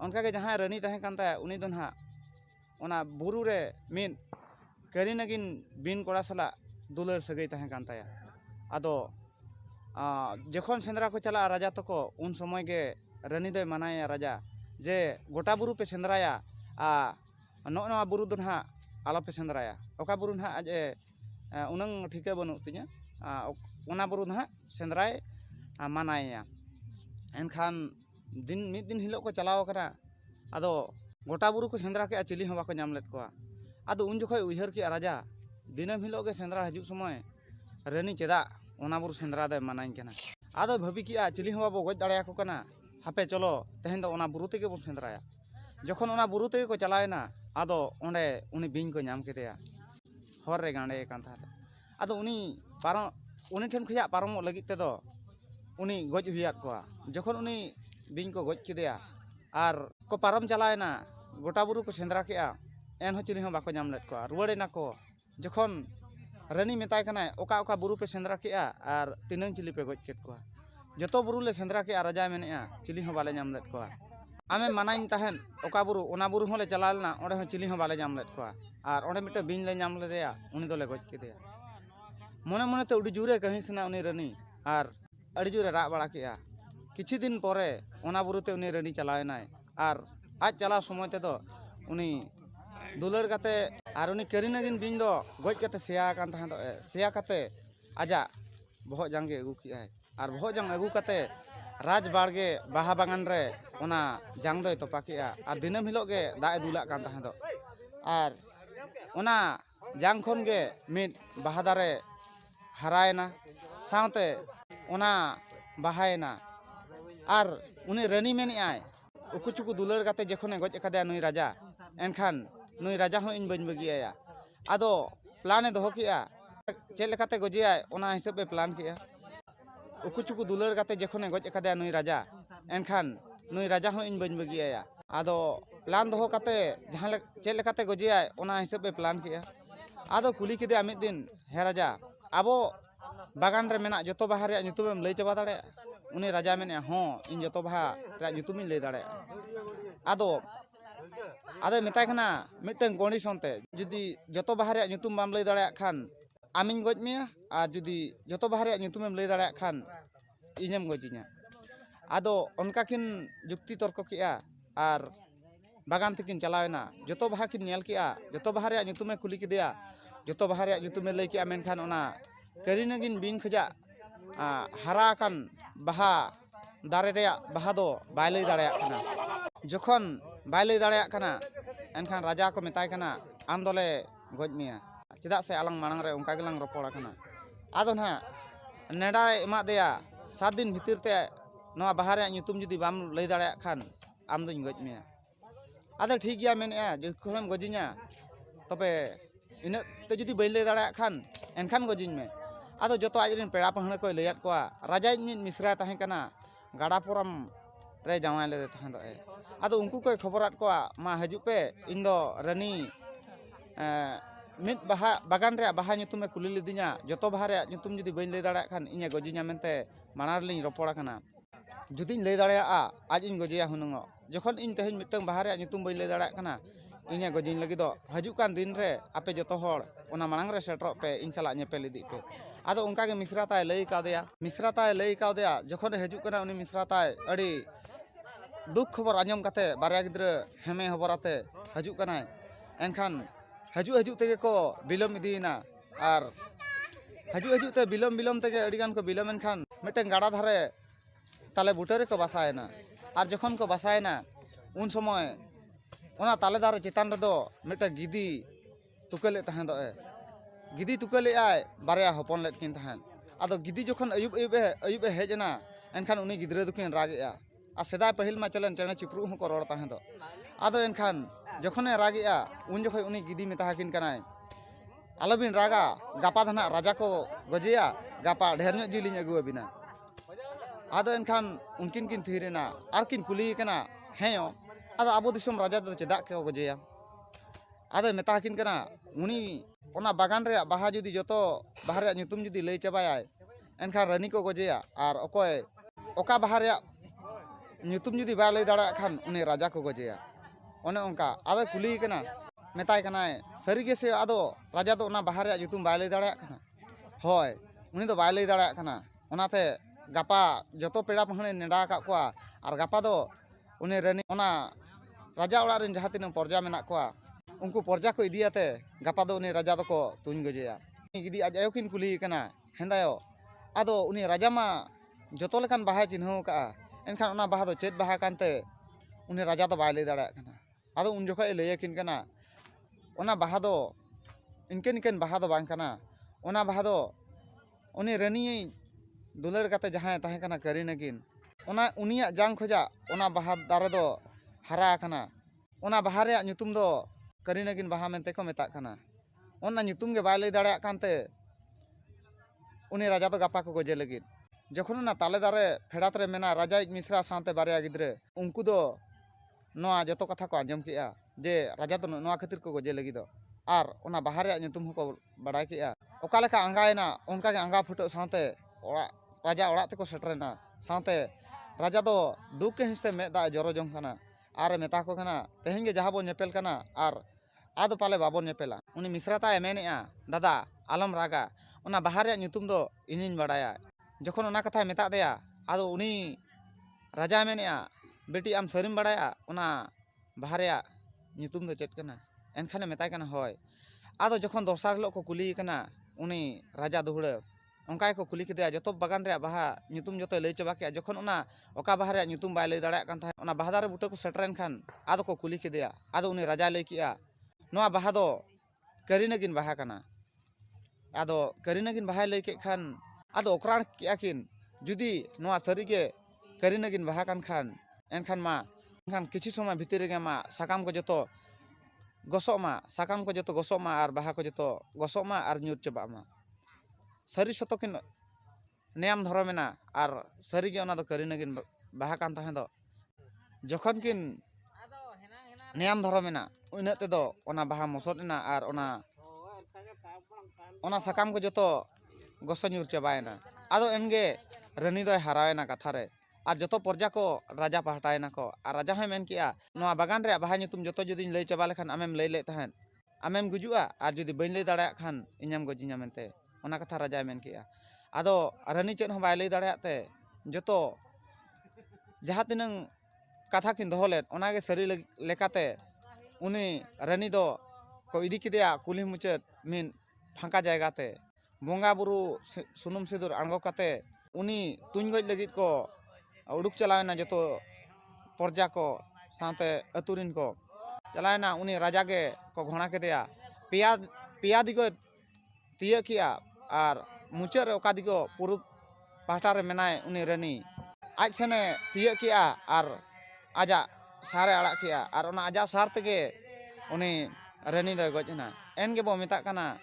ᱚᱱᱠᱟᱜᱮ ᱡᱟᱦᱟᱸᱭ ᱨᱟᱹᱱᱤ ᱛᱟᱦᱮᱸ ᱠᱟᱱ ᱛᱟᱭᱟ ᱩᱱᱤ ᱫᱚ ᱦᱟᱸᱜ ᱚᱱᱟ ᱵᱩᱨᱩ ᱨᱮ ᱢᱤᱫ ᱠᱟᱹᱨᱤ ᱱᱟᱹᱜᱤᱱ ᱵᱤᱱ ᱠᱚᱲᱟ ᱥᱟᱞᱟᱜ ᱫᱩᱞᱟᱹᱲ ᱥᱟᱹᱜᱟᱹᱭ ᱛᱟᱦᱮᱸ ᱠᱟᱱ ᱛᱟᱭᱟ ᱟᱫᱚ ᱡᱚᱠᱷᱚᱱ ᱥᱮᱸᱫᱽᱨᱟ ᱠᱚ ᱪᱟᱞᱟᱜᱼᱟ ᱨᱟᱡᱟ ᱛᱟᱠᱚ ᱩᱱ ᱥᱚᱢᱚᱭ ᱜᱮ ᱨᱟᱹᱱᱤ ᱫᱚᱭ ᱢᱟᱱᱟᱭᱮᱭᱟ ᱨᱟᱡᱟ ᱡᱮ ᱜᱚᱴᱟ ᱵᱩᱨᱩ ᱯᱮ ᱥᱮᱸᱫᱽᱨᱟᱭᱟ ᱟᱨ ᱱᱚᱜᱼᱚ ᱱᱚᱣᱟ ᱵᱩᱨᱩ ᱫᱚ ᱦᱟᱸᱜ ᱟᱞᱚᱯᱮ ᱥᱮᱸᱫᱽᱨᱟᱭᱟ ᱚᱠᱟ ᱵᱩᱨᱩ ᱦᱟᱸᱜ ᱟᱡ ᱮ ᱩᱱᱟᱹᱝ ᱴᱷᱤᱠᱟᱹ ᱵᱟᱹᱱᱩᱜ ᱛᱤᱧᱟᱹ ᱚᱱᱟ ᱵᱩᱨᱩ ᱫᱚ ᱦᱟᱸᱜ ᱥᱮᱸᱫᱽᱨᱟᱭ ᱢᱟᱱᱟᱭᱮᱭᱟ ᱮᱱᱠᱷᱟᱱ ᱫᱤᱱ ᱢᱤᱫ ᱫᱤᱱ ᱦᱤᱞᱳᱜ ᱠᱚ ᱪᱟᱞᱟᱣ ᱠᱟᱱᱟ ᱟᱫᱚ ᱜᱳᱴᱟ ᱵᱩᱨᱩ ᱠᱚ ᱥᱮᱸᱫᱽᱨᱟ ᱠᱮᱜᱼᱟ ᱪᱤᱞᱤ ᱦᱚᱸ ᱵᱟᱠᱚ ᱧᱟᱢ ᱞᱮᱜ ᱠᱚᱣᱟ ᱟᱫᱚ ᱩᱱ ᱡᱚᱠᱷᱚᱡ ᱩᱭᱦᱟᱹᱨ ᱠᱮᱜᱼᱟ ᱨᱟᱡᱟ ᱫᱤᱱᱟᱹᱢ ᱦᱤᱞᱳᱜ ᱜᱮ ᱥᱮᱸᱫᱽᱨᱟ ᱦᱤᱡᱩᱜ ᱥᱚᱢᱚᱭ ᱨᱟᱹᱱᱤ ᱪᱮᱫᱟᱜ ᱚᱱᱟ ᱵᱩᱨᱩ ᱥᱮᱸᱫᱽᱨᱟ ᱫᱚᱭ ᱢᱟᱱᱟᱧ ᱠᱟᱱᱟ ᱟᱫᱚ ᱵᱷᱟᱹᱵᱤ ᱠᱮᱜᱼᱟ ᱪᱤᱞᱤ ᱦᱚᱸ ᱵᱟᱵᱚ ᱜᱚᱡ ᱫᱟᱲᱮᱭᱟᱠᱚ ᱠᱟᱱᱟ ᱦᱟᱯᱮ ᱪᱚᱞᱚ ᱛᱮᱦᱮᱧ ᱫᱚ ᱚᱱᱟ ᱵᱩᱨᱩ ᱛᱮᱜᱮ ᱵᱚᱱ ᱥᱮᱸᱫᱽᱨᱟᱭᱟ ᱡᱚᱠᱷᱚᱱ ᱚᱱᱟ ᱵᱩᱨᱩ ᱛᱮᱜᱮ ᱠᱚ ᱪᱟᱞᱟᱣᱮᱱᱟ ᱟᱫᱚ ᱚᱸᱰᱮ ᱩᱱᱤ ᱵᱤᱧ ᱠᱚ ᱧᱟᱢ ᱠᱮᱫᱮᱭᱟ ᱦᱚᱨ ᱨᱮ ᱜᱟᱸᱰᱮ ᱠᱟᱱ ᱛᱟᱦᱮᱸᱜ ᱟᱫᱚ ᱩᱱᱤ ᱯᱟᱨᱚᱢ ᱩᱱᱤ ᱴᱷᱮᱱ ᱠᱷᱚᱱᱟᱜ ᱯᱟᱨᱚᱢᱚᱜ ᱞᱟᱹᱜᱤᱫ ᱛᱮᱫᱚ ᱩᱱᱤ ᱜᱚᱡ ᱦᱩᱭᱟᱫ ᱠᱚᱣᱟ ᱡᱚᱠᱷᱚᱱ ᱩᱱᱤ ᱵᱤᱧ ᱠᱚ ᱜᱚᱡ ᱠᱮᱫᱮᱭᱟ ᱟᱨ ᱠᱚ ᱯᱟᱨᱚᱢ ᱪᱟᱞᱟᱣᱮᱱᱟ ᱜᱚᱴᱟ ᱵᱩᱨᱩ ᱠᱚ ᱥᱮᱸᱫᱽᱨᱟ ᱠᱮᱜᱼᱟ ᱮᱱᱦᱚᱸ ᱪᱤᱞᱤ ᱦᱚᱸ ᱵᱟᱠᱚ ᱧᱟᱢ ᱞᱮᱜ ᱠᱚᱣᱟ ᱨᱩᱣᱟᱹᱲ ᱮᱱᱟᱠᱚ ᱡᱚᱠᱷᱚᱱ ᱨᱟᱹᱱᱤ ᱢᱮᱛᱟᱭ ᱠᱟᱱᱟᱭ ᱚᱠᱟ ᱚᱠᱟ ᱵᱩᱨᱩ ᱯᱮ ᱥᱮᱸᱫᱽᱨᱟ ᱠᱮᱜᱼᱟ ᱟᱨ ᱛᱤᱱᱟᱹᱝ ᱪᱤᱞᱤ ᱯᱮ ᱜᱚᱡ ᱠᱮᱜ ᱠᱚᱣᱟ ᱡᱚᱛᱚ ᱵᱩᱨᱩ ᱞᱮ ᱥᱮᱸᱫᱽᱨᱟ ᱠᱮᱜᱼᱟ ᱨᱟᱡᱟᱭ ᱢᱮᱱᱮᱜᱼᱟ ᱪᱤᱞᱤ ᱦᱚᱸ ᱵᱟᱞᱮ ᱧᱟᱢ ᱞᱮᱫ ᱠᱚᱣᱟ ᱟᱢᱮᱢ ᱢᱟᱱᱟᱧ ᱛᱟᱦᱮᱸᱫ ᱚᱠᱟ ᱵᱩᱨᱩ ᱚᱱᱟ ᱵᱩᱨᱩ ᱦᱚᱸᱞᱮ ᱪᱟᱞᱟᱣ ᱞᱮᱱᱟ ᱚᱸᱰᱮ ᱦᱚᱸ ᱪᱤᱞᱤ ᱦᱚᱸ ᱵᱟᱞᱮ ᱧᱟᱢ ᱞᱮᱫ ᱠᱚᱣᱟ ᱟᱨ ᱚᱸᱰᱮ ᱢᱤᱫᱴᱮᱱ ᱵᱤᱧ ᱞᱮ ᱧᱟᱢ ᱞᱮᱫᱮᱭᱟ ᱩᱱᱤ ᱫᱚᱞᱮ ᱜᱚᱡ ᱠᱮᱫᱮᱭᱟ ᱢᱚᱱᱮ ᱢᱚᱱᱮ ᱛᱮ ᱟᱹᱰᱤ ᱡᱳᱨᱮ ᱠᱟᱹᱦᱤᱥᱮᱱᱟ ᱩᱱᱤ ᱨᱟᱹᱱᱤ ᱟᱨ ᱟᱹᱰᱤ ᱡᱳᱨᱮ ᱨᱟᱜ ᱵᱟᱲᱟ ᱠᱮᱜᱼᱟ ᱠᱤᱪᱷᱩ ᱫᱤᱱ ᱯᱚᱨᱮ ᱚᱱᱟ ᱵᱩᱨᱩ ᱛᱮ ᱩᱱᱤ ᱨᱟᱹᱱᱤ ᱪᱟᱞᱟᱣ ᱮᱱᱟᱭ ᱟᱨ ᱟᱡ ᱪᱟᱞᱟᱣ ᱥᱚᱢᱚᱭ ᱛᱮᱫᱚ ᱩᱱᱤ ᱫᱩᱞᱟᱹᱲ ᱠᱟᱛᱮ ᱟᱨ ᱩᱱᱤ ᱠᱟᱹᱨᱤ ᱱᱟᱹᱜᱤᱱ ᱵᱤᱧ ᱫᱚ ᱜᱚᱡ ᱠᱟᱛᱮ ᱥᱮᱭᱟ ᱟᱠᱟᱱ ᱛᱟᱦᱮᱸᱫᱚᱜᱼᱮ ᱥᱮᱭᱟ ᱠᱟᱛᱮ ᱟᱡᱟᱜ ᱵᱚᱦᱚᱜ ᱡᱟᱝ ᱜᱮ ᱟᱹᱜᱩ ᱠᱮᱜᱼᱟᱭ ᱟᱨ ᱵᱚᱦᱚᱜ ᱡᱟᱝ ᱟᱹᱜᱩ ᱠᱟᱛᱮᱫ ᱨᱟᱡᱽ ᱵᱟᱲᱜᱮ ᱵᱟᱦᱟ ᱵᱟᱜᱟᱱ ᱨᱮ ᱚᱱᱟ ᱡᱟᱝ ᱫᱚᱭ ᱛᱚᱯᱟ ᱠᱮᱜᱼᱟ ᱟᱨ ᱫᱤᱱᱟᱹᱢ ᱦᱤᱞᱳᱜ ᱜᱮ ᱫᱟᱜ ᱮ ᱫᱩᱞᱟᱜ ᱠᱟᱱ ᱛᱟᱦᱮᱸ ᱫᱚᱜ ᱟᱨ ᱚᱱᱟ ᱡᱟᱝ ᱠᱷᱚᱱ ᱜᱮ ᱢᱤᱫ ᱵᱟᱦᱟ ᱫᱟᱨᱮ ᱦᱟᱨᱟᱭᱮᱱᱟ ᱥᱟᱶᱛᱮ ᱚᱱᱟ ᱵᱟᱦᱟᱭᱮᱱᱟ ᱟᱨ ᱩᱱᱤ ᱨᱟᱹᱱᱤ ᱢᱮᱱᱮᱜᱼᱟᱭ ᱩᱠᱩ ᱪᱩᱠᱩ ᱫᱩᱞᱟᱹᱲ ᱠᱟᱛᱮ ᱡᱚᱠᱷᱚᱱᱮ ᱜᱚᱡ ᱟᱠᱟᱫᱮᱭᱟ ᱱᱩᱭ ᱨᱟᱡᱟ ᱮᱱᱠᱷᱟᱱ ᱱᱩᱭ ᱨᱟᱡᱟ ᱦᱚᱸ ᱤᱧ ᱵᱟᱹᱧ ᱵᱟᱹᱜᱤᱭᱟᱭᱟ ᱟᱫᱚ ᱯᱞᱟᱱᱮ ᱫᱚᱦᱚ ᱠᱮᱜᱼᱟ ᱪᱮᱫ ᱞᱮᱠᱟᱛᱮ ᱜᱚᱡᱮᱭᱟᱭ ᱚᱱᱟ ᱦᱤᱥᱟᱹᱵ ᱮ ᱯᱞᱟᱱ ᱠᱮᱜᱼᱟ ᱩᱠᱩ ᱪᱩᱠᱩ ᱫᱩᱞᱟᱹᱲ ᱠᱟᱛᱮ ᱡᱚᱠᱷᱚᱱᱮ ᱜᱚᱡ ᱟᱠᱟᱫᱮᱭᱟ ᱱᱩᱭ ᱨᱟᱡᱟ ᱮᱱᱠᱷᱟᱱ ᱱᱩᱭ ᱨᱟᱡᱟ ᱦᱚᱸ ᱤᱧ ᱵᱟᱹᱧ ᱵᱟᱹᱜᱤᱭᱟᱭᱟ ᱟᱫᱚ ᱯᱞᱟᱱ ᱫᱚᱦᱚ ᱠᱟᱛᱮ ᱡᱟᱦᱟᱸ ᱞᱮᱠᱟ ᱪᱮᱫ ᱞᱮᱠᱟᱛᱮ ᱜᱚᱡᱮᱭᱟᱭ ᱚᱱᱟ ᱦᱤᱥᱟᱹᱵ ᱮ ᱯᱞᱟᱱ ᱠᱮᱜᱼᱟ ᱟᱫᱚ ᱠᱩᱞᱤ ᱠᱮᱫᱮᱭᱟ ᱢᱤᱫ ᱫᱤᱱ ᱦᱮᱸ ᱨᱟᱡᱟ ᱟᱵᱚ ᱵᱟᱜᱟᱱ ᱨᱮ ᱢᱮᱱᱟᱜ ᱡᱚᱛᱚ ᱵᱟᱦᱟ ᱨᱮᱭᱟᱜ ᱧᱩᱛᱩᱢᱮᱢ ᱞᱟᱹᱭ ᱪᱟᱵᱟ ᱫᱟᱲᱮᱭᱟᱜᱼᱟ ᱩᱱᱤ ᱨᱟᱡᱟ ᱢᱮᱱᱮᱫᱼᱟ ᱦᱚᱸ ᱤᱧ ᱡᱚᱛᱚ ᱵᱟᱦᱟ ᱨᱮᱭᱟᱜ ᱧᱩᱛᱩᱢᱤᱧ ᱞᱟᱹᱭ ᱫᱟᱲᱮᱭᱟᱜᱼᱟ ᱟᱫᱚ ᱟᱫᱚᱭ ᱢᱮᱛᱟᱭ ᱠᱟᱱᱟ ᱢᱤᱫᱴᱟᱝ ᱠᱚᱱᱰᱤᱥᱚᱱ ᱛᱮ ᱡᱩᱫᱤ ᱡᱚᱛᱚ ᱵᱟᱦᱟ ᱨᱮᱭᱟᱜ ᱧᱩᱛᱩᱢ ᱵᱟᱢ ᱞᱟᱹᱭ ᱫᱟᱲᱮᱭᱟᱜ ᱠᱷᱟᱱ ᱟᱢᱤᱧ ᱜᱚᱡ ᱢᱮᱭᱟ ᱟᱨ ᱡᱩᱫᱤ ᱡᱚᱛᱚ ᱵᱟᱦᱟ ᱨᱮᱭᱟᱜ ᱧᱩᱛᱩᱢᱮᱢ ᱞᱟᱹᱭ ᱫᱟᱲᱮᱭᱟᱜ ᱠᱷᱟᱱ ᱤᱧᱮᱢ ᱜᱚᱡᱤᱧᱟ ᱟᱫᱚ ᱚᱱᱠᱟ ᱠᱤᱱ ᱡᱩᱠᱛᱤ ᱛᱚᱨᱠᱚ ᱠᱮᱜᱼᱟ ᱟᱨ ᱵᱟᱜᱟᱱ ᱛᱮᱠᱤᱱ ᱪᱟᱞᱟᱣᱮᱱᱟ ᱡᱚᱛᱚ ᱵᱟᱦᱟ ᱠᱤᱱ ᱧᱮᱞ ᱠᱮᱜᱼᱟ ᱡᱚᱛᱚ ᱵᱟᱦᱟ ᱨᱮᱭᱟᱜ ᱧᱩᱛᱩᱢᱮ ᱠᱩᱞᱤ ᱠᱮᱫᱮᱭᱟ ᱡᱚᱛᱚ ᱵᱟᱦᱟ ᱨᱮᱭᱟᱜ ᱧᱩᱛᱩᱢᱮ ᱞᱟᱹᱭ ᱠᱮᱜᱼᱟ ᱢᱮᱱᱠᱷᱟᱱ ᱚᱱᱟ ᱠᱟᱹᱨᱤ ᱱᱟᱹᱜᱤᱱ ᱵᱤᱧ ᱠᱷᱚᱱᱟᱜ ᱦᱟᱨᱟ ᱟᱠᱟᱱ ᱵᱟᱦᱟ ᱫᱟᱨᱮ ᱨᱮᱭᱟᱜ ᱵᱟᱦᱟ ᱫᱚ ᱵᱟᱭ ᱞᱟᱹᱭ ᱫᱟᱲᱮᱭᱟᱜ ᱠᱟᱱᱟ ᱡᱚᱠᱷᱚᱱ ᱵᱟᱭ ᱞᱟᱹᱭ ᱫᱟᱲᱮᱭᱟᱜ ᱠᱟᱱᱟ ᱮᱱᱠᱷᱟᱱ ᱨᱟᱡᱟ ᱠᱚ ᱢᱮᱛᱟᱭ ᱠᱟᱱᱟ ᱟᱢ ᱫᱚᱞᱮ ᱜᱚᱡ ᱢᱮᱭᱟ ᱪᱮᱫᱟᱜ ᱥᱮ ᱟᱞᱟᱝ ᱢᱟᱲᱟᱝ ᱨᱮ ᱚᱱᱠᱟ ᱜᱮᱞᱟᱝ ᱨᱚᱯᱚᱲ ᱟᱠᱟᱱᱟ ᱟᱫᱚ ᱱᱟᱦᱟᱜ ᱱᱮᱰᱟᱭ ᱮᱢᱟᱫ ᱫᱮᱭᱟ ᱥᱟᱛ ᱫᱤᱱ ᱵᱷᱤᱛᱤᱨ ᱛᱮ ᱱᱚᱣᱟ ᱵᱟᱦᱟ ᱨᱮᱭᱟᱜ ᱧᱩᱛᱩᱢ ᱡᱩᱫᱤ ᱵᱟᱢ ᱞᱟᱹᱭ ᱫᱟᱲᱮᱭᱟᱜ ᱠᱷᱟᱱ ᱟᱢ ᱫᱩᱧ ᱜᱚᱡ ᱢᱮᱭᱟ ᱟᱫᱚ ᱴᱷᱤᱠ ᱜᱮᱭᱟ ᱢᱮᱱᱮᱜᱼᱟ ᱡᱚᱠᱷᱚᱱᱮᱢ ᱜᱚᱡᱤᱧᱟ ᱛᱚᱵᱮ ᱤᱱᱟᱹᱜ ᱛᱮ ᱡᱩᱫᱤ ᱵᱟᱹᱧ ᱞᱟᱹᱭ ᱫᱟᱲᱮᱭᱟᱜ ᱠᱷᱟᱱ ᱮᱱᱠᱷᱟᱱ ᱜᱚᱡᱤᱧ ᱢᱮ ᱟᱫᱚ ᱡᱚᱛᱚ ᱟᱡ ᱨᱮᱱ ᱯᱮᱲᱟ ᱯᱟᱹᱦᱲᱟᱹ ᱠᱚᱭ ᱞᱟᱹᱭᱟᱫ ᱠᱚᱣᱟ ᱨᱟᱡᱟᱭᱤᱡ ᱢᱤᱫ ᱢᱤᱥᱨᱟᱭ ᱛᱟᱦᱮᱸ ᱠᱟᱱᱟ ᱜᱟᱰᱟᱯᱚᱨᱟᱢ ᱨᱮ ᱡᱟᱶᱟᱭ ᱞᱮᱫᱮ ᱛᱟᱦᱮᱸᱫᱚᱜ ᱮ ᱟᱫᱚ ᱩᱱᱠᱩ ᱠᱚᱭ ᱠᱷᱚᱵᱚᱨᱟᱫ ᱠᱚᱣᱟ ᱢᱟ ᱦᱤᱡᱩᱜ ᱯᱮ ᱤᱧ ᱫᱚ ᱨᱟᱹᱱᱤ ᱢᱤᱫ ᱵᱟᱦᱟ ᱵᱟᱜᱟᱱ ᱨᱮᱭᱟᱜ ᱵᱟᱦᱟ ᱧᱩᱛᱩᱢᱮ ᱠᱩᱞᱤ ᱞᱤᱫᱤᱧᱟ ᱡᱚᱛᱚ ᱵᱟᱦᱟ ᱨᱮᱭᱟᱜ ᱧᱩᱛᱩᱢ ᱡᱩᱫᱤ ᱵᱟᱹᱧ ᱞᱟᱹᱭ ᱫᱟᱲᱮᱭᱟᱜ ᱠᱷᱟᱱ ᱤᱧᱮ ᱜᱚᱡᱤᱧᱟ ᱢᱮᱱᱛᱮ ᱢᱟᱲᱟᱝ ᱨᱮᱞᱤᱧ ᱨᱚᱯᱚᱲ ᱟᱠᱟᱱᱟ ᱡᱩᱫᱤᱧ ᱞᱟᱹᱭ ᱫᱟᱲᱮᱭᱟᱜᱼᱟ ᱟᱡ ᱤᱧ ᱜᱚᱡᱮᱭᱟ ᱦᱩᱱᱟᱹᱝᱚᱜ ᱡᱚᱠᱷᱚᱱ ᱤᱧ ᱛᱮᱦᱮᱧ ᱢᱤᱫᱴᱟᱝ ᱵᱟᱦᱟ ᱨᱮᱭᱟᱜ ᱧᱩᱛᱩᱢ ᱵᱟᱹᱧ ᱞᱟᱹᱭ ᱫᱟᱲᱮᱭᱟᱜ ᱠᱟᱱᱟ ᱤᱧᱮ ᱜᱚᱡᱤᱧ ᱞᱟᱹᱜᱤᱫᱚᱜ ᱦᱤᱡᱩᱜ ᱠᱟᱱ ᱫᱤᱱ ᱨᱮ ᱟᱯᱮ ᱡᱚᱛᱚ ᱦᱚᱲ ᱚᱱᱟ ᱢᱟᱲᱟᱝ ᱨᱮ ᱥᱮᱴᱮᱨᱚᱜ ᱯᱮ ᱤᱧ ᱥᱟᱞᱟᱜ ᱧᱮᱯᱮᱞ ᱤᱫᱤᱜ ᱯᱮ ᱟᱫᱚ ᱚᱱᱠᱟ ᱜᱮ ᱢᱤᱥᱨᱟ ᱛᱟᱭ ᱞᱟᱹᱭ ᱠᱟᱣᱫᱮᱭᱟ ᱢᱤᱥᱨᱟ ᱛᱟᱭ ᱞᱟᱹᱭ ᱠᱟᱣᱫᱮᱭᱟ ᱡᱚᱠᱷᱚᱱᱮ ᱦᱤᱡᱩᱜ ᱠᱟᱱᱟ ᱩᱱᱤ ᱢᱤᱥᱨᱟ ᱛᱟᱭ ᱟᱹᱰᱤ ᱫᱩᱠ ᱠᱷᱚᱵᱚᱨ ᱟᱸᱡᱚᱢ ᱠᱟᱛᱮ ᱵᱟᱨᱭᱟ ᱜᱤᱫᱽᱨᱟᱹ ᱦᱮᱢᱮ ᱦᱚᱵᱚᱨ ᱟᱛᱮ ᱦᱤᱡᱩᱜ ᱠᱟᱱᱟᱭ ᱮᱱᱠᱷᱟᱱ ᱦᱤᱡᱩᱜ ᱦᱤᱡᱩᱜ ᱛᱮᱜᱮ ᱠᱚ ᱵᱤᱞᱚᱢ ᱤᱫᱤᱭᱮᱱᱟ ᱟᱨ ᱦᱤᱡᱩᱜ ᱦᱤᱡᱩᱜ ᱛᱮ ᱵᱤᱞᱚᱢ ᱵᱤᱞᱚᱢ ᱛᱮᱜᱮ ᱟᱹᱰᱤ ᱜᱟᱱ ᱠᱚ ᱵᱤᱞᱚᱢ ᱮᱱᱠᱷᱟᱱ ᱢᱤᱫᱴᱟᱝ ᱜᱟᱰᱟ ᱫᱷᱟᱨᱮ ᱛᱟᱞᱮ ᱵᱩᱴᱟᱹ ᱨᱮᱠᱚ ᱵᱟᱥᱟᱭᱮᱱᱟ ᱟᱨ ᱡᱚᱠᱷᱚᱱ ᱠᱚ ᱵᱟᱥᱟᱭᱮᱱᱟ ᱩᱱ ᱥᱚᱢᱚᱭ ᱚᱱᱟ ᱛᱟᱞᱮ ᱫᱟᱨᱮ ᱪᱮᱛᱟᱱ ᱨᱮᱫᱚ ᱢᱤᱫᱴᱟᱝ ᱜᱤᱫᱤ ᱛᱩᱠᱟᱹ ᱞᱮᱫ ᱛᱟᱦᱮᱸ ᱫᱚᱜᱼᱮ ᱜᱤᱫᱤ ᱛᱩᱠᱟᱹ ᱞᱮᱫᱼᱟᱭ ᱵᱟᱨᱭᱟ ᱦᱚᱯᱚᱱ ᱞᱮᱫ ᱠᱤᱱ ᱛᱟᱦᱮᱸᱫ ᱟᱫᱚ ᱜᱤᱫᱤ ᱡᱚᱠᱷᱚᱱ ᱟᱹᱭᱩᱵ ᱟᱹᱭᱩᱵ ᱮ ᱟᱹᱭᱩᱵ ᱮ ᱦᱮᱡ ᱮᱱᱟ ᱮᱱᱠᱷᱟᱱ ᱩᱱᱤ ᱜᱤᱫᱽᱨᱟᱹ ᱫᱚᱠᱤᱱ ᱨᱟᱜᱽ ᱮᱫᱼᱟ ᱟᱨ ᱥᱮᱫᱟᱭ ᱯᱟᱹᱦᱤᱞ ᱢᱟ ᱪᱮᱞᱮᱱ ᱪᱮᱬᱮ ᱪᱤᱯᱨᱩᱫ ᱦᱚᱸᱠᱚ ᱨᱚᱲ ᱛᱟᱦᱮᱸ ᱫᱚ ᱟᱫᱚ ᱮᱱᱠᱷᱟᱱ ᱡᱚᱠᱷᱚᱱᱮ ᱨᱟᱜᱽ ᱮᱫᱼᱟ ᱩᱱ ᱡᱚᱠᱷᱚᱱ ᱩᱱᱤ ᱜᱤᱫᱤ ᱢᱮᱛᱟ ᱟᱹᱠᱤᱱ ᱠᱟᱱᱟᱭ ᱟᱞᱚᱵᱤᱱ ᱨᱟᱜᱟ ᱜᱟᱯᱟ ᱫᱚ ᱱᱟᱦᱟᱜ ᱨᱟᱡᱟ ᱠᱚ ᱜᱚᱡᱮᱭᱟ ᱜᱟᱯᱟ ᱰᱷᱮᱨ ᱧᱚᱜ ᱡᱤᱞᱤᱧ ᱟᱹᱜᱩ ᱟᱹᱵᱤᱱᱟ ᱟᱫᱚ ᱮᱱᱠᱷᱟᱱ ᱩᱱᱠᱤᱱ ᱠᱤᱱ ᱛᱷᱤᱨ ᱮᱱᱟ ᱟᱨ ᱠᱤᱱ ᱠᱩᱞᱤ ᱠᱟᱱᱟ ᱦᱮᱸ ᱭᱚ ᱟᱫᱚ ᱟᱵᱚ ᱫᱤᱥᱚᱢ ᱨᱟᱡᱟ ᱫᱚ ᱪᱮᱫᱟᱜ ᱠᱚ ᱜᱚᱡᱮᱭᱟ ᱟᱫᱚᱭ ᱢᱮᱛᱟ ᱟᱹᱠᱤᱱ ᱠᱟᱱᱟ ᱩᱱᱤ ᱚᱱᱟ ᱵᱟᱜᱟᱱ ᱨᱮᱭᱟᱜ ᱵᱟᱦᱟ ᱡᱩᱫᱤ ᱡᱚᱛᱚ ᱵᱟᱦᱟ ᱨᱮᱭᱟᱜ ᱧᱩᱛᱩᱢ ᱡᱩᱫᱤ ᱞᱟᱹᱭ ᱪᱟᱵᱟᱭᱟᱭ ᱮᱱᱠᱷᱟᱱ ᱨᱟᱹᱱᱤ ᱠᱚ ᱜᱚᱡᱮᱭᱟ ᱟᱨ ᱚᱠᱚᱭ ᱚᱠᱟ ᱵᱟᱦᱟ ᱨᱮᱭᱟᱜ ᱧᱩᱛᱩᱢ ᱡᱩᱫᱤ ᱵᱟᱭ ᱞᱟᱹᱭ ᱫᱟᱲᱮᱭᱟᱜ ᱠᱷᱟᱱ ᱩᱱᱤ ᱨᱟᱡᱟ ᱠᱚ ᱜᱚᱡᱮᱭᱟ ᱚᱱᱮ ᱚᱱᱠᱟ ᱟᱫᱚᱭ ᱠᱩᱞᱤ ᱠᱟᱱᱟ ᱢᱮᱛᱟᱭ ᱠᱟᱱᱟᱭ ᱥᱟᱹᱨᱤ ᱜᱮᱥᱮ ᱟᱫᱚ ᱨᱟᱡᱟ ᱫᱚ ᱚᱱᱟ ᱵᱟᱦᱟ ᱨᱮᱭᱟᱜ ᱧᱩᱛᱩᱢ ᱵᱟᱭ ᱞᱟᱹᱭ ᱫᱟᱲᱮᱭᱟᱜ ᱠᱟᱱᱟ ᱦᱳᱭ ᱩᱱᱤ ᱫᱚ ᱵᱟᱭ ᱞᱟᱹᱭ ᱫᱟᱲᱮᱭᱟᱜ ᱠᱟᱱᱟ ᱚᱱᱟᱛᱮ ᱜᱟᱯᱟ ᱡᱚᱛᱚ ᱯᱮᱲᱟ ᱯᱟᱹᱲᱦᱟᱹᱜ ᱤᱧ ᱱᱮᱰᱟ ᱟᱠᱟᱫ ᱠᱚᱣᱟ ᱟᱨ ᱜᱟᱯᱟ ᱫᱚ ᱩᱱᱤ ᱨᱟᱹᱱᱤ ᱚᱱᱟ ᱨᱟᱡᱟ ᱚᱲᱟᱜ ᱨᱮᱱ ᱡᱟᱦᱟᱸ ᱛᱤᱱᱟᱹᱜ ᱯᱨᱚᱡᱟ ᱢᱮᱱᱟᱜ ᱠᱚᱣᱟ ᱩᱱᱠᱩ ᱯᱨᱚᱡᱟ ᱠᱚ ᱤᱫᱤ ᱠᱟᱛᱮ ᱜᱟᱯᱟ ᱫᱚ ᱩᱱᱤ ᱨᱟᱡᱟ ᱫᱚᱠᱚ ᱛᱩᱧ ᱜᱚᱡᱮᱭᱟ ᱡᱩᱫᱤ ᱟᱡ ᱟᱭᱳ ᱠᱤᱱ ᱠᱩᱞᱤᱭᱮ ᱠᱟᱱᱟ ᱦᱮᱸᱫᱟ ᱟᱭᱳ ᱟᱫᱚ ᱩᱱᱤ ᱨᱟᱡᱟ ᱢᱟ ᱡᱚᱛᱚ ᱞᱮᱠᱟᱱ ᱵᱟᱦᱟᱭ ᱪᱤᱱᱦᱟᱹᱣ ᱠᱟᱜᱼᱟ ᱮᱱᱠᱷᱟᱱ ᱚᱱᱟ ᱵᱟᱦᱟ ᱫᱚ ᱪᱮᱫ ᱵᱟᱦᱟ ᱠᱟᱱᱛᱮ ᱩᱱᱤ ᱨᱟᱡᱟ ᱫᱚ ᱵᱟᱭ ᱞᱟᱹᱭ ᱫᱟᱲᱮᱭᱟᱜ ᱠᱟᱱᱟ ᱟᱫᱚ ᱩᱱ ᱡᱚᱠᱷᱚᱡ ᱮ ᱞᱟᱹᱭ ᱟᱹᱠᱤᱱ ᱠᱟᱱᱟ ᱚᱱᱟ ᱵᱟᱦᱟ ᱫᱚ ᱤᱱᱠᱟᱹᱱ ᱤᱱᱠᱟᱹᱱ ᱵᱟᱦᱟ ᱫᱚ ᱵᱟᱝ ᱠᱟᱱᱟ ᱚᱱᱟ ᱵᱟᱦᱟ ᱫᱚ ᱩᱱᱤ ᱨᱟᱹᱱᱤᱭᱤᱡ ᱫᱩᱞᱟᱹᱲ ᱠᱟᱛᱮ ᱡᱟᱦᱟᱸᱭ ᱛᱟᱦᱮᱸ ᱠᱟᱱᱟ ᱠᱟᱹᱨᱤ ᱱᱟᱹᱜᱤᱱ ᱚᱱᱟ ᱩᱱᱤᱭᱟᱜ ᱡᱟᱝ ᱠᱷᱚᱡᱟᱜ ᱚᱱᱟ ᱵᱟᱦᱟ ᱫᱟᱨᱮ ᱫᱚ ᱦᱟᱨᱟ ᱟᱠᱟᱱᱟ ᱚᱱᱟ ᱵᱟᱦᱟ ᱨᱮᱭᱟᱜ ᱧᱩᱛᱩᱢ ᱫᱚ ᱠᱟᱹᱨᱤ ᱱᱟᱹᱜᱤᱱ ᱵᱟᱦᱟ ᱢᱮᱱᱛᱮ ᱠᱚ ᱢᱮᱛᱟᱜ ᱠᱟᱱᱟ ᱚᱱᱟ ᱧᱩᱛᱩᱢ ᱜᱮ ᱵᱟᱭ ᱞᱟᱹᱭ ᱫᱟᱲᱮᱭᱟᱜ ᱠᱟᱱ ᱛᱮ ᱩᱱᱤ ᱨᱟᱡᱟ ᱫᱚ ᱜᱟᱯᱟ ᱠᱚ ᱜᱚᱡᱮ ᱞᱟᱹᱜᱤᱫ ᱡᱚᱠᱷᱚᱱ ᱚᱱᱟ ᱛᱟᱞᱮ ᱫᱟᱨᱮ ᱯᱷᱮᱰᱟᱛ ᱨᱮ ᱢᱮᱱᱟᱭ ᱨᱟᱡᱟᱭᱤᱡ ᱢᱤᱥᱨᱟ ᱥᱟᱶᱛᱮ ᱵᱟᱨᱭᱟ ᱜᱤᱫᱽᱨᱟᱹ ᱩᱱᱠᱩ ᱫᱚ ᱱᱚᱣᱟ ᱡᱚᱛᱚ ᱠᱟᱛᱷᱟ ᱠᱚ ᱟᱸᱡᱚᱢ ᱠᱮᱜᱼᱟ ᱡᱮ ᱨᱟᱡᱟ ᱫᱚ ᱱᱚᱣᱟ ᱠᱷᱟᱹᱛᱤᱨ ᱠᱚ ᱜᱚᱡᱮ ᱞᱟᱹᱜᱤᱫᱚᱜ ᱟᱨ ᱚᱱᱟ ᱵᱟᱦᱟ ᱨᱮᱭᱟᱜ ᱧᱩᱛᱩᱢ ᱦᱚᱸᱠᱚ ᱵᱟᱲᱟᱭ ᱠᱮᱜᱼᱟ ᱚᱠᱟ ᱞᱮᱠᱟ ᱟᱸᱜᱟᱭᱮᱱᱟ ᱚᱱᱠᱟ ᱜᱮ ᱟᱸᱜᱟ ᱯᱷᱩᱴᱟᱹᱜ ᱥᱟᱶᱛᱮ ᱚᱲᱟᱜ ᱨᱟᱡᱟ ᱚᱲᱟᱜ ᱛᱮᱠᱚ ᱥᱮᱴᱮᱨᱮᱱᱟ ᱥᱟᱶᱛᱮ ᱨᱟᱡᱟ ᱫᱚ ᱫᱩᱠ ᱦᱤᱸᱥ ᱛᱮ ᱢᱮᱫ ᱫᱟᱜ ᱮ ᱡᱚᱨᱚ ᱡᱚᱝ ᱠᱟᱱᱟ ᱟᱨᱮ ᱢᱮᱛᱟ ᱠᱚ ᱠᱟᱱᱟ ᱛᱮᱦᱮᱧ ᱜᱮ ᱡᱟᱦᱟᱸ ᱵᱚᱱ ᱧᱮᱯᱮᱞ ᱠᱟᱱᱟ ᱟᱨ ᱟᱫᱚ ᱯᱟᱞᱮ ᱵᱟᱵᱚᱱ ᱧᱮᱯᱮᱞᱟ ᱩᱱᱤ ᱢᱤᱥᱨᱟ ᱛᱟᱭ ᱢᱮᱱᱮᱜᱼᱟ ᱫᱟᱫᱟ ᱟᱞᱚᱢ ᱨᱟᱜᱟ ᱚᱱᱟ ᱵᱟᱦᱟ ᱨᱮᱭᱟᱜ ᱧᱩᱛᱩᱢ ᱫᱚ ᱤᱧᱤᱧ ᱵᱟᱲᱟᱭᱟ ᱡᱚᱠᱷᱚᱱ ᱚᱱᱟ ᱠᱟᱛᱷᱟᱭ ᱢᱮᱛᱟᱜ ᱫᱮᱭᱟ ᱟᱫᱚ ᱩᱱᱤ ᱨᱟᱡᱟᱭ ᱢᱮᱱᱮᱫᱼᱟ ᱵᱤᱴᱤ ᱟᱢ ᱥᱟᱹᱨᱤᱢ ᱵᱟᱲᱟᱭᱟ ᱚᱱᱟ ᱵᱟᱦᱟ ᱨᱮᱭᱟᱜ ᱧᱩᱛᱩᱢ ᱫᱚ ᱪᱮᱫ ᱠᱟᱱᱟ ᱮᱱᱠᱷᱟᱱᱮ ᱢᱮᱛᱟᱭ ᱠᱟᱱᱟ ᱦᱳᱭ ᱟᱫᱚ ᱡᱚᱠᱷᱚᱱ ᱫᱚᱥᱟᱨ ᱦᱤᱞᱳᱜ ᱠᱚ ᱠᱩᱞᱤᱭᱮ ᱠᱟᱱᱟ ᱩᱱᱤ ᱨᱟᱡᱟ ᱫᱩᱦᱲᱟᱹ ᱚᱱᱠᱟ ᱜᱮᱠᱚ ᱠᱩᱞᱤ ᱠᱮᱫᱮᱭᱟ ᱡᱚᱛᱚ ᱵᱟᱜᱟᱱ ᱨᱮᱭᱟᱜ ᱵᱟᱦᱟ ᱧᱩᱛᱩᱢ ᱡᱚᱛᱚᱭ ᱞᱟᱹᱭ ᱪᱟᱵᱟ ᱠᱮᱫᱼᱟ ᱡᱚᱠᱷᱚᱱ ᱚᱱᱟ ᱚᱠᱟ ᱵᱟᱦᱟ ᱨᱮᱭᱟᱜ ᱧᱩᱛᱩᱢ ᱵᱟᱭ ᱞᱟᱹᱭ ᱫᱟᱲᱮᱭᱟᱜ ᱠᱟᱱ ᱛᱟᱦᱮᱸᱫ ᱚᱱᱟ ᱵᱟᱦᱟ ᱫᱟᱨᱮ ᱵᱩᱴᱟᱹ ᱠᱚ ᱥᱮᱴᱮᱨᱮᱱ ᱠᱷᱟᱱ ᱟᱫᱚ ᱠᱚ ᱠᱩᱞᱤ ᱠᱮᱫᱮᱭᱟ ᱟᱫᱚ ᱩᱱᱤ ᱨᱟᱡᱟᱭ ᱞᱟᱹᱭ ᱠᱮᱫᱼᱟ ᱱᱚᱣᱟ ᱵᱟᱦᱟ ᱫᱚ ᱠᱟᱹᱨᱤ ᱱᱟᱹᱜᱤᱱ ᱵᱟᱦᱟ ᱠᱟᱱᱟ ᱟᱫᱚ ᱠᱟᱹᱨᱤ ᱱᱟᱹᱜᱤᱱ ᱵᱟᱦᱟᱭ ᱞᱟᱹᱭ ᱠᱮᱫ ᱠᱷᱟᱱ ᱟᱫᱚ ᱚᱠᱨᱟᱲ ᱠᱮᱫᱼᱟ ᱠᱤᱱ ᱡᱩᱫᱤ ᱱᱚᱣᱟ ᱥᱟᱹᱨᱤ ᱜᱮ ᱠᱟᱹᱨᱤ ᱱᱟᱹᱜᱤᱱ ᱵᱟᱦᱟ ᱠᱟᱱ ᱠᱷᱟᱱ ᱮᱱᱠᱷᱟᱱ ᱢᱟ ᱮᱱᱠᱷᱟᱱ ᱠᱤᱪᱷᱩ ᱥᱚᱢᱚᱭ ᱵᱷᱤᱛᱤᱨ ᱨᱮᱜᱮ ᱢᱟ ᱥᱟᱠᱟᱢ ᱠᱚ ᱡᱚᱛᱚ ᱜᱚᱥᱚᱜ ᱢᱟ ᱥᱟᱠᱟᱢ ᱠᱚ ᱡᱚᱛᱚ ᱜᱚᱥᱚᱜ ᱢᱟ ᱟᱨ ᱵᱟᱦᱟ ᱠᱚ ᱡᱚᱛᱚ ᱜᱚᱥᱚᱜ ᱢᱟ ᱟᱨ ᱧᱩᱨ ᱪᱟᱵᱟᱜ ᱢᱟ ᱥᱟᱹᱨᱤ ᱥᱚᱛᱚ ᱠᱤᱱ ᱱᱮᱭᱟᱢ ᱫᱷᱚᱨᱚᱢ ᱢᱮᱱᱟᱜᱼᱟ ᱟᱨ ᱥᱟᱹᱨᱤ ᱜᱮ ᱚᱱᱟ ᱫᱚ ᱠᱟᱹᱨᱤ ᱱᱟᱹᱜᱤᱱ ᱵᱟᱦᱟ ᱠᱟᱱ ᱛᱟᱦᱮᱸ ᱫᱚ ᱡᱚᱠᱷᱚᱱ ᱠᱤᱱ ᱱᱮᱭᱟᱢ ᱫᱷᱚᱨᱚᱢ ᱮᱱᱟ ᱤᱱᱟᱹᱜ ᱛᱮᱫᱚ ᱚᱱᱟ ᱵᱟᱦᱟ ᱢᱚᱥᱚᱫ ᱮᱱᱟ ᱟᱨ ᱚᱱᱟ ᱚᱱᱟ ᱥᱟᱠᱟᱢ ᱠᱚ ᱡᱚᱛᱚ ᱜᱚᱥᱚ ᱧᱩᱨ ᱪᱟᱵᱟᱭᱮᱱᱟ ᱟᱫᱚ ᱮᱱᱜᱮ ᱨᱟᱹᱱᱤ ᱫᱚᱭ ᱦᱟᱨᱟᱣᱮᱱᱟ ᱠᱟᱛᱷᱟ ᱨᱮ ᱟᱨ ᱡᱚᱛᱚ ᱯᱨᱚᱡᱟ ᱠᱚ ᱨᱟᱡᱟ ᱯᱟᱦᱴᱟᱭᱮᱱᱟ ᱠᱚ ᱟᱨ ᱨᱟᱡᱟ ᱦᱚᱸᱭ ᱢᱮᱱ ᱠᱮᱜᱼᱟ ᱱᱚᱣᱟ ᱵᱟᱜᱟᱱ ᱨᱮᱭᱟᱜ ᱵᱟᱦᱟ ᱧᱩᱛᱩᱢ ᱡᱚᱛᱚ ᱡᱩᱫᱤᱧ ᱞᱟᱹᱭ ᱪᱟᱵᱟ ᱞᱮᱠᱷᱟᱱ ᱟᱢᱮᱢ ᱞᱟᱹᱭ ᱞᱮᱫ ᱛᱟᱦᱮᱸᱫ ᱟᱢᱮᱢ ᱜᱩᱡᱩᱜᱼᱟ ᱟᱨ ᱡᱩᱫᱤ ᱵᱟᱹᱧ ᱞᱟᱹᱭ ᱫᱟᱲᱮᱭᱟᱜ ᱠᱷᱟᱱ ᱤᱧᱮᱢ ᱜᱚᱡᱤᱧᱟ ᱢᱮᱱᱛᱮ ᱚᱱᱟ ᱠᱟᱛᱷᱟ ᱨᱟᱡᱟᱭ ᱢᱮᱱ ᱠᱮᱫᱼᱟ ᱟᱫᱚ ᱨᱟᱹᱱᱤ ᱪᱮᱫ ᱦᱚᱸ ᱵᱟᱭ ᱞᱟᱹᱭ ᱫᱟᱲᱮᱭᱟᱜ ᱛᱮ ᱡᱚᱛᱚ ᱡᱟᱦᱟᱸ ᱛᱤᱱᱟᱹᱝ ᱠᱟᱛᱷᱟ ᱠᱤᱱ ᱫᱚᱦᱚ ᱞᱮᱫ ᱚᱱᱟ ᱜᱮ ᱥᱟᱹᱨᱤ ᱞᱮᱠᱟᱛᱮ ᱩᱱᱤ ᱨᱟᱹᱱᱤ ᱫᱚ ᱠᱚ ᱤᱫᱤ ᱠᱮᱫᱮᱭᱟ ᱠᱩᱞᱦᱤ ᱢᱩᱪᱟᱹᱫ ᱢᱤᱫ ᱯᱷᱟᱸᱠᱟ ᱡᱟᱭᱜᱟ ᱛᱮ ᱵᱚᱸᱜᱟ ᱵᱩᱨᱩ ᱥᱩᱱᱩᱢ ᱥᱤᱸᱫᱩᱨ ᱟᱬᱜᱚ ᱠᱟᱛᱮ ᱩᱱᱤ ᱛᱩᱧ ᱜᱚᱡ ᱞᱟᱹᱜᱤᱫ ᱠᱚ ᱩᱰᱩᱠ ᱪᱟᱞᱟᱣ ᱮᱱᱟ ᱡᱚᱛᱚ ᱯᱚᱨᱡᱟ ᱠᱚ ᱥᱟᱶᱛᱮ ᱟᱹᱛᱩ ᱨᱤᱱ ᱠᱚ ᱪᱟᱞᱟᱣ ᱮᱱᱟ ᱩᱱᱤ ᱨᱟᱡᱟ ᱜᱮ ᱠᱚ ᱜᱷᱚᱬᱟ ᱠᱮᱫᱮᱭᱟ ᱯᱮᱭᱟ ᱯᱮᱭᱟ ᱫᱤᱜᱚᱭ ᱛᱤᱭᱟᱹᱜ ᱠᱮᱜᱼᱟ ᱟᱨ ᱢᱩᱪᱟᱹᱫ ᱨᱮ ᱚᱠᱟ ᱫᱤᱜᱚ ᱯᱩᱨᱩᱵᱽ ᱯᱟᱦᱴᱟ ᱨᱮ ᱢᱮᱱᱟᱭ ᱩᱱᱤ ᱨᱟᱹᱱᱤ ᱟᱡ ᱥᱮᱱᱮ ᱛᱤᱭᱟᱹᱜ ᱠᱮᱜᱼᱟ ᱟᱨ ᱟᱡᱟᱜ ᱥᱟᱨᱮ ᱟᱲᱟᱜ ᱠᱮᱜᱼᱟ ᱟᱨ ᱚᱱᱟ ᱟᱡᱟᱜ ᱥᱟᱨ ᱛᱮᱜᱮ ᱩᱱᱤ ᱨᱟᱹᱱᱤ ᱫᱚᱭ ᱜᱚᱡ ᱮᱱᱟ ᱮᱱ ᱜᱮᱵᱚ ᱢᱮᱛᱟᱜ ᱠᱟᱱᱟ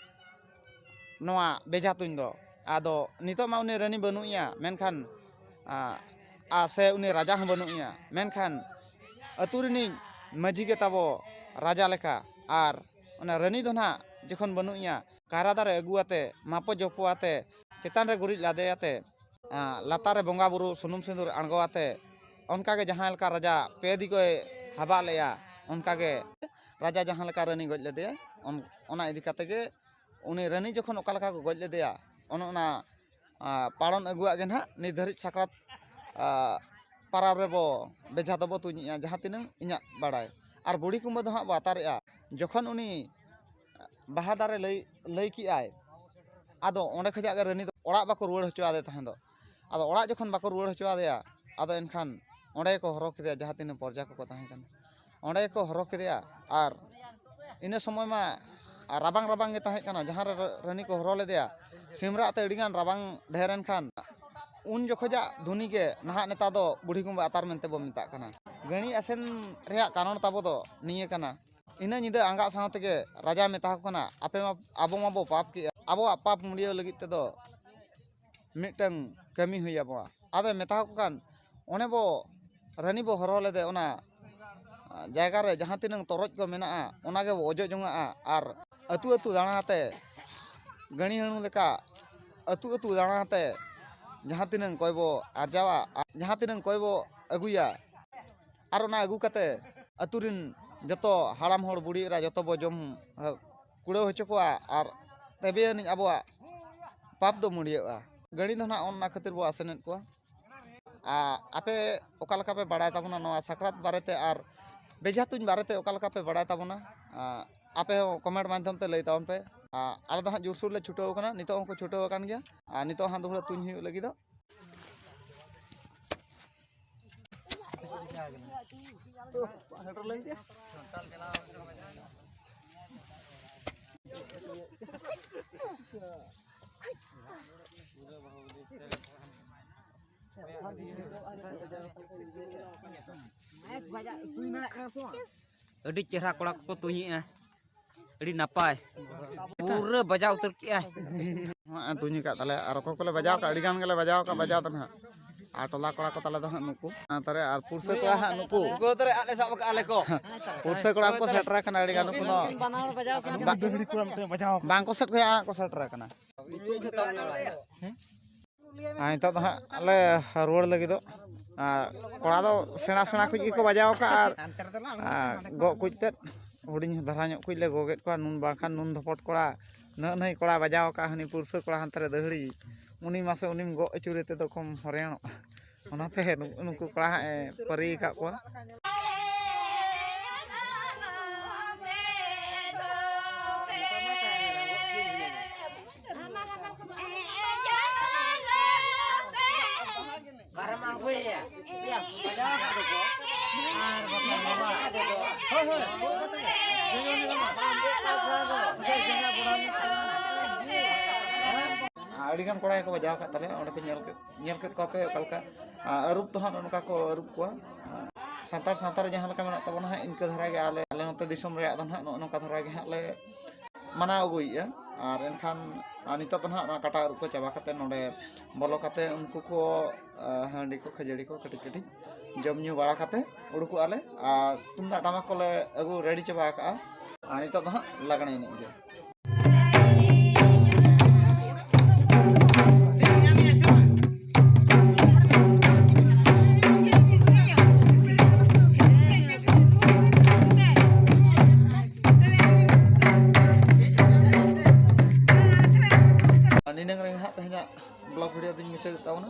ᱱᱚᱣᱟ ᱵᱮᱡᱷᱟ ᱛᱩᱧ ᱫᱚ ᱟᱫᱚ ᱱᱤᱛᱚᱜ ᱢᱟ ᱩᱱᱤ ᱨᱟᱹᱱᱤ ᱵᱟᱹᱱᱩᱜ ᱮᱭᱟ ᱢᱮᱱᱠᱷᱟᱱ ᱥᱮ ᱩᱱᱤ ᱨᱟᱡᱟ ᱦᱚᱸ ᱵᱟᱹᱱᱩᱜ ᱮᱭᱟ ᱢᱮᱱᱠᱷᱟᱱ ᱟᱹᱛᱩ ᱨᱤᱱᱤᱡ ᱢᱟᱹᱡᱷᱤ ᱜᱮ ᱛᱟᱵᱚ ᱨᱟᱡᱟ ᱞᱮᱠᱟ ᱟᱨ ᱚᱱᱟ ᱨᱟᱹᱱᱤ ᱫᱚ ᱱᱟᱜ ᱡᱚᱠᱷᱚᱱ ᱵᱟᱹᱱᱩᱜ ᱮᱭᱟ ᱠᱟᱭᱨᱟ ᱫᱟᱨᱮ ᱟᱹᱜᱩ ᱠᱟᱛᱮᱫ ᱢᱟᱯᱚ ᱡᱚᱯᱚ ᱠᱟᱛᱮᱫ ᱪᱮᱛᱟᱱ ᱨᱮ ᱜᱩᱨᱤᱡ ᱞᱟᱫᱮ ᱠᱟᱛᱮᱫ ᱞᱟᱛᱟᱨ ᱨᱮ ᱵᱚᱸᱜᱟ ᱵᱳᱨᱳ ᱥᱩᱱᱩᱢ ᱥᱤᱸᱫᱩᱨ ᱟᱬᱜᱚ ᱠᱟᱛᱮᱫ ᱚᱱᱠᱟ ᱜᱮ ᱡᱟᱦᱟᱸ ᱞᱮᱠᱟ ᱨᱟᱡᱟ ᱯᱮ ᱫᱤᱠᱮ ᱦᱟᱵᱟᱜ ᱞᱮᱫᱼᱟ ᱚᱱᱠᱟ ᱜᱮ ᱨᱟᱡᱟ ᱡᱟᱦᱟᱸ ᱞᱮᱠᱟ ᱨᱟᱹᱱᱤ ᱜᱚᱡ ᱞᱮᱫᱮᱭᱟᱭ ᱚᱱᱟ ᱤᱫᱤ ᱠᱟᱛᱮ ᱜᱮ ᱩᱱᱤ ᱨᱟᱹᱱᱤ ᱡᱚᱠᱷᱚᱱ ᱚᱠᱟ ᱞᱮᱠᱟ ᱠᱚ ᱜᱚᱡ ᱞᱮᱫᱮᱭᱟ ᱚᱱᱮ ᱚᱱᱟ ᱯᱟᱨᱚᱢ ᱟᱹᱜᱩᱣᱟᱜ ᱜᱮ ᱱᱟᱜ ᱱᱤᱛ ᱫᱷᱟᱹᱨᱤᱡ ᱥᱟᱠᱨᱟᱛ ᱯᱟᱨᱟᱵᱽ ᱨᱮᱵᱚ ᱵᱮᱡᱷᱟ ᱫᱚᱵᱚ ᱛᱩᱧᱮᱜᱼᱟ ᱡᱟᱦᱟᱸ ᱛᱤᱱᱟᱹᱝ ᱤᱧᱟᱹᱜ ᱵᱟᱲᱟᱭ ᱟᱨ ᱵᱩᱲᱦᱤ ᱠᱩᱢᱵᱟᱹ ᱫᱚ ᱦᱟᱸᱜ ᱵᱚ ᱟᱛᱟᱨᱮᱜᱼᱟ ᱡᱚᱠᱷᱚᱱ ᱩᱱᱤ ᱵᱟᱦᱟ ᱫᱟᱨᱮ ᱞᱟᱹᱭ ᱞᱟᱹᱭ ᱠᱮᱜᱼᱟᱭ ᱟᱫᱚ ᱚᱸᱰᱮ ᱠᱷᱚᱱᱟᱜ ᱜᱮ ᱨᱟᱹᱱᱤ ᱫᱚ ᱚᱲᱟᱜ ᱵᱟᱠᱚ ᱨᱩᱣᱟᱹᱲ ᱦᱚᱪᱚ ᱟᱫᱮ ᱛᱟᱦᱮᱸ ᱫᱚ ᱟᱫᱚ ᱚᱲᱟᱜ ᱡᱚᱠᱷᱚᱱ ᱵᱟᱠᱚ ᱨᱩᱣᱟᱹᱲ ᱦᱚᱪᱚ ᱟᱫᱮᱭᱟ ᱟᱫᱚ ᱮᱱᱠᱷᱟᱱ ᱚᱸᱰᱮ ᱜᱮᱠᱚ ᱦᱚᱨᱦᱚ ᱠᱮᱫᱮᱭᱟ ᱡᱟᱦᱟᱸ ᱛᱤᱱᱟᱹᱜ ᱯᱚᱨᱡᱟ ᱠᱚᱠᱚ ᱛᱟᱦᱮᱸ ᱠᱟᱱᱟ ᱚᱸᱰᱮ ᱜᱮᱠᱚ ᱦᱚᱨᱦᱚ ᱠᱮᱫᱮᱭᱟ ᱟᱨ ᱤᱱᱟᱹ ᱥᱚᱢᱚᱭ ᱢᱟ ᱨᱟᱵᱟᱝ ᱨᱟᱵᱟᱝ ᱜᱮ ᱛᱟᱦᱮᱸ ᱠᱟᱱᱟ ᱡᱟᱦᱟᱸ ᱨᱮ ᱨᱟᱹᱱᱤ ᱠᱚ ᱦᱚᱨᱦᱚ ᱞᱮᱫᱮᱭᱟ ᱥᱤᱢ ᱨᱟᱜ ᱛᱮ ᱟᱹᱰᱤ ᱜᱟᱱ ᱨᱟᱵᱟᱝ ᱰᱷᱮᱨ ᱮᱱ ᱠᱷᱟᱱ ᱩᱱ ᱡᱚᱠᱷᱚᱡᱟᱜ ᱫᱷᱩᱱᱤ ᱜᱮ ᱱᱟᱦᱟᱜ ᱱᱮᱛᱟᱨ ᱫᱚ ᱵᱩᱲᱦᱤ ᱠᱩᱢᱵᱟᱹ ᱟᱛᱟᱨ ᱢᱮᱱᱛᱮ ᱵᱚᱱ ᱢᱮᱛᱟᱜ ᱠᱟᱱᱟ ᱜᱟᱹᱬᱤ ᱟᱥᱮᱱ ᱨᱮᱭᱟᱜ ᱠᱟᱨᱚᱱ ᱛᱟᱵᱚ ᱫᱚ ᱱᱤᱭᱟᱹ ᱠᱟᱱᱟ ᱤᱱᱟᱹ ᱧᱤᱫᱟᱹ ᱟᱸᱜᱟᱜ ᱥᱟᱶ ᱛᱮᱜᱮ ᱨᱟᱡᱟᱭ ᱢᱮᱛᱟ ᱠᱚ ᱠᱟᱱᱟ ᱟᱯᱮ ᱢᱟ ᱟᱵᱚ ᱢᱟᱵᱚ ᱯᱟᱯ ᱠᱮᱜᱼᱟ ᱟᱵᱚᱣᱟᱜ ᱯᱟᱯ ᱢᱩᱰᱭᱟᱹᱣ ᱞᱟᱹᱜᱤᱫ ᱛᱮᱫᱚ ᱢᱤᱫᱴᱟᱹᱝ ᱠᱟᱹᱢᱤ ᱦᱩᱭ ᱟᱵᱚᱣᱟ ᱟᱫᱚᱭ ᱢᱮᱛᱟ ᱠᱚ ᱠᱟᱱ ᱚᱱᱮ ᱵᱚ ᱨᱟᱹᱱᱤ ᱵᱚ ᱦᱚᱨᱦᱚ ᱞᱮᱫᱮ ᱚᱱᱟ ᱡᱟᱭᱜᱟ ᱨᱮ ᱡᱟᱦᱟᱸ ᱛᱤᱱᱟᱹᱝ ᱛᱚᱨᱚᱡ ᱠᱚ ᱢᱮᱱᱟᱜᱼᱟ ᱚᱱᱟ ᱜᱮᱵᱚ ᱚᱡᱚᱜ ᱡᱚᱱᱟᱜᱼᱟ ᱟᱨ ᱟᱹᱛᱩ ᱟᱹᱛᱩ ᱫᱟᱬᱟ ᱠᱟᱛᱮ ᱜᱟᱹᱲᱤ ᱦᱟᱹᱬᱩ ᱞᱮᱠᱟ ᱟᱹᱛᱩ ᱟᱹᱛᱩ ᱫᱟᱬᱟ ᱠᱟᱛᱮ ᱡᱟᱦᱟᱸ ᱛᱤᱱᱟᱹᱝ ᱠᱚᱭ ᱵᱚ ᱟᱨᱡᱟᱣᱟ ᱟᱨ ᱡᱟᱦᱟᱸ ᱛᱤᱱᱟᱹᱝ ᱠᱚᱭ ᱵᱚ ᱟᱹᱜᱩᱭᱟ ᱟᱨ ᱚᱱᱟ ᱟᱹᱜᱩ ᱠᱟᱛᱮ ᱟᱹᱛᱩ ᱨᱤᱱ ᱡᱚᱛᱚ ᱦᱟᱲᱟᱢ ᱦᱚᱲ ᱵᱩᱲᱦᱤ ᱮᱨᱟ ᱡᱚᱛᱚ ᱵᱚ ᱡᱚᱢ ᱠᱩᱲᱟᱹᱣ ᱦᱚᱪᱚ ᱠᱚᱣᱟ ᱟᱨ ᱛᱚᱵᱮ ᱟᱹᱱᱤᱡ ᱟᱵᱚᱣᱟᱜ ᱯᱟᱯ ᱫᱚ ᱢᱩᱲᱭᱟᱹᱜᱼᱟ ᱜᱟᱹᱲᱤ ᱫᱚ ᱱᱟᱦᱟᱜ ᱚᱱᱟ ᱠᱷᱟᱹᱛᱤᱨ ᱵᱚᱱ ᱟᱥᱮᱱᱮᱫ ᱠᱚᱣᱟ ᱟᱨ ᱟᱯᱮ ᱚᱠᱟ ᱞᱮᱠᱟ ᱯᱮ ᱵᱟᱲᱟᱭ ᱛᱟᱵᱚᱱᱟ ᱱᱚᱣᱟ ᱥᱟᱠᱨᱟᱛ ᱵᱟᱨᱮᱛᱮ ᱟᱨ ᱵᱮᱡᱷᱟ ᱛᱩᱧ ᱵᱟᱨᱮᱛᱮ ᱚᱠᱟ ᱞᱮᱠᱟ ᱯᱮ ᱵᱟᱲᱟᱭ ᱛᱟᱵᱚᱱᱟ ᱟᱯᱮ ᱦᱚᱸ ᱠᱚᱢᱮᱱᱴ ᱢᱟᱫᱽᱫᱷᱚᱢ ᱛᱮ ᱞᱟᱹᱭ ᱛᱟᱵᱚᱱ ᱯᱮ ᱟᱞᱮ ᱫᱚ ᱦᱟᱸᱜ ᱡᱳᱨᱥᱳᱨ ᱞᱮ ᱪᱷᱩᱴᱟᱹᱣ ᱠᱟᱱᱟ ᱱᱤᱛᱚᱜ ᱦᱚᱸᱠᱚ ᱪᱷᱩᱴᱟᱹᱣ ᱟᱠᱟᱱ ᱜᱮᱭᱟ ᱟᱨ ᱱᱤᱛᱚᱜ ᱦᱚᱸ ᱦᱟᱸᱜ ᱫᱩᱦᱲᱟᱹ ᱛᱩᱧ ᱦᱩᱭᱩᱜ ᱞᱟᱹᱜᱤᱫᱚᱜ ᱟᱹᱰᱤ ᱪᱮᱦᱨᱟ ᱠᱚᱲᱟ ᱠᱚᱠᱚ ᱛᱩᱧᱮᱜᱼᱟ ᱟᱹᱰᱤ ᱱᱟᱯᱟᱭ ᱯᱩᱨᱟᱹ ᱵᱟᱡᱟᱣ ᱩᱛᱟᱹᱨ ᱠᱮᱜᱼᱟᱭ ᱛᱩᱧ ᱟᱠᱟᱫ ᱛᱟᱞᱮ ᱟᱨ ᱚᱠᱚᱭ ᱠᱚᱞᱮ ᱵᱟᱡᱟᱣ ᱟᱠᱟᱫ ᱟᱹᱰᱤ ᱜᱟᱱ ᱜᱮᱞᱮ ᱵᱟᱡᱟᱣ ᱟᱠᱟᱫ ᱵᱟᱡᱟᱣ ᱫᱚ ᱱᱟᱦᱟᱜ ᱟᱨ ᱴᱚᱞᱟ ᱠᱚᱲᱟ ᱠᱚ ᱛᱟᱞᱮ ᱫᱚ ᱦᱟᱸᱜ ᱱᱩᱠᱩ ᱛᱟᱨᱮ ᱟᱨ ᱯᱩᱨᱥᱟᱹ ᱠᱚᱲᱟ ᱦᱟᱸᱜ ᱱᱩᱠᱩ ᱛᱟᱨᱮ ᱟᱞᱮ ᱥᱟᱵ ᱟᱠᱟᱫ ᱟᱞᱮ ᱠᱚ ᱯᱩᱨᱥᱟᱹ ᱠᱚᱲᱟ ᱠᱚ ᱥᱮᱴᱮᱨ ᱟᱠᱟᱱᱟ ᱟᱹᱰᱤ ᱜᱟᱱ ᱱᱩᱠᱩ ᱫᱚ ᱵᱟᱝ ᱠᱚ ᱥᱮᱴᱮᱨ ᱠᱚᱭᱟ ᱠᱚ ᱥᱮᱴᱮᱨ ᱟᱠᱟᱱᱟ ᱱᱤᱛᱚᱜ ᱫᱚ ᱦᱟᱸᱜ ᱞᱮ ᱨᱩᱣᱟᱹᱲ ᱞᱟᱹᱜᱤᱫᱚᱜ ᱠᱚᱲᱟ ᱫᱚ ᱥᱮᱬᱟ ᱥᱮᱬᱟ ᱠᱩᱡ ᱜᱮᱠᱚ ᱵᱟᱡᱟᱣ ᱟᱠᱟᱫᱼᱟ ᱟᱨ ᱜᱚᱜ ᱠᱩᱡ ᱛᱮᱫ ᱦᱩᱰᱤᱧ ᱫᱷᱟᱨᱟ ᱧᱚᱜ ᱠᱩᱡ ᱞᱮ ᱜᱚᱜᱮᱫ ᱠᱚᱣᱟ ᱱᱩᱱ ᱵᱟᱝᱠᱷᱟᱱ ᱱᱩᱱ ᱫᱷᱚᱯᱚᱴ ᱠᱚᱲᱟ ᱱᱟᱹᱜ ᱱᱟᱹᱭ ᱠᱚᱲᱟ ᱵᱟᱡᱟᱣ ᱟᱠᱟᱫᱼᱟ ᱦᱟᱹᱱᱤ ᱯᱩᱲᱥᱟᱹ ᱠᱚᱲᱟ ᱦᱟᱱᱛᱮ ᱨᱮ ᱫᱟᱹᱦᱲᱤ ᱩᱱᱤ ᱢᱟᱥᱮ ᱩᱱᱤᱢ ᱜᱚᱜ ᱟᱹᱪᱩᱨᱮ ᱛᱮᱫᱚ ᱠᱚᱢ ᱦᱚᱨᱮᱱᱚᱜᱼᱟ ᱚᱱᱟᱛᱮ ᱱᱩᱠᱩ ᱠᱚᱲᱟ ᱦᱟᱸᱜ ᱮ ᱯᱟᱹᱨᱤ ᱟᱠᱟᱫ ᱠᱚᱣᱟ ᱟᱹᱰᱤᱜᱟᱱ ᱠᱚᱲᱟ ᱜᱮᱠᱚ ᱵᱟᱡᱟᱣ ᱟᱠᱟᱫ ᱛᱟᱞᱮᱭᱟ ᱚᱸᱰᱮ ᱠᱚ ᱧᱮᱞ ᱠᱮᱫ ᱧᱮᱞ ᱠᱮᱫ ᱠᱚᱣᱟ ᱯᱮ ᱚᱠᱟ ᱞᱮᱠᱟ ᱟᱹᱨᱩᱵ ᱫᱚ ᱦᱟᱸᱜ ᱱᱚᱝᱠᱟ ᱠᱚ ᱟᱹᱨᱩᱵ ᱠᱚᱣᱟ ᱥᱟᱱᱛᱟᱲ ᱥᱟᱶᱛᱟ ᱨᱮ ᱡᱟᱦᱟᱸ ᱞᱮᱠᱟ ᱢᱮᱱᱟᱜ ᱛᱟᱵᱚᱱᱟ ᱦᱟᱸᱜ ᱤᱱᱠᱟᱹ ᱫᱷᱟᱨᱟ ᱜᱮ ᱟᱞᱮ ᱟᱞᱮ ᱱᱚᱛᱮ ᱫᱤᱥᱚᱢ ᱨᱮᱭᱟᱜ ᱫᱚ ᱦᱟᱸᱜ ᱱᱚᱜᱼᱚ ᱱᱚᱝᱠᱟ ᱫᱷᱟᱨᱟ ᱜᱮ ᱦᱟᱸᱜ ᱞᱮ ᱢᱟᱱᱟᱣ ᱟᱹᱜᱩᱭᱮᱫᱼᱟ ᱟᱨ ᱮᱱᱠᱷᱟᱱ ᱱᱤᱛᱚᱜ ᱫᱚ ᱦᱟᱸᱜ ᱱᱚᱣᱟ ᱠᱟᱴᱟ ᱟᱹᱨᱩᱵ ᱠᱚ ᱪᱟᱵᱟ ᱠᱟᱛᱮᱫ ᱱᱚᱰᱮ ᱵᱚᱞᱚ ᱠᱟᱛᱮᱫ ᱩᱱᱠᱩ ᱠᱚ ᱦᱟᱺᱰᱤ ᱠᱚ ᱠᱷᱟᱹᱡᱟᱹᱲᱤ ᱠᱚ ᱠᱟᱹᱴᱤᱡ ᱠᱟᱹᱴᱤᱡ ᱡᱚᱢ ᱧᱩ ᱵᱟᱲᱟ ᱠᱟᱛᱮᱫ ᱩᱰᱩᱠᱚᱜᱼᱟ ᱞᱮ ᱟᱨ ᱛᱩᱢᱫᱟᱜ ᱴᱟᱢᱟᱠ ᱠᱚᱞᱮ ᱟᱹᱜᱩ ᱨᱮᱰᱤ ᱪᱟᱵᱟ ᱟᱠᱟᱫᱼᱟ ᱟᱨ ᱱᱤᱛᱚᱜ ᱫᱚ ᱦᱟᱸᱜ ᱞᱟᱜᱽᱬᱮ ᱮᱱᱮᱡ ᱜᱮ ᱱᱤᱱᱟᱹᱝ ᱨᱮ ᱦᱟᱸᱜ ᱛᱮᱦᱮᱧᱟᱜ ᱵᱞᱚᱜ ᱵᱷᱤᱰᱤᱭᱳ ᱫᱚᱧ ᱢᱩᱪᱟᱹᱫ ᱛᱟᱵᱚᱱᱟ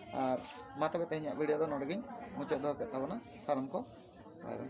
ᱟᱨ ᱢᱟ ᱛᱚᱵᱮ ᱛᱮᱦᱮᱧᱟᱜ ᱵᱷᱤᱰᱤᱭᱳ ᱫᱚ ᱱᱚᱰᱮ ᱜᱤᱧ ᱢᱩᱪᱟᱹᱫ ᱫᱚᱦᱚ ᱠᱮᱫ ᱛᱟᱵᱚᱱᱟ ᱥᱟᱱᱟᱢ ᱠᱚ ᱵᱟᱭ ᱵᱟᱭ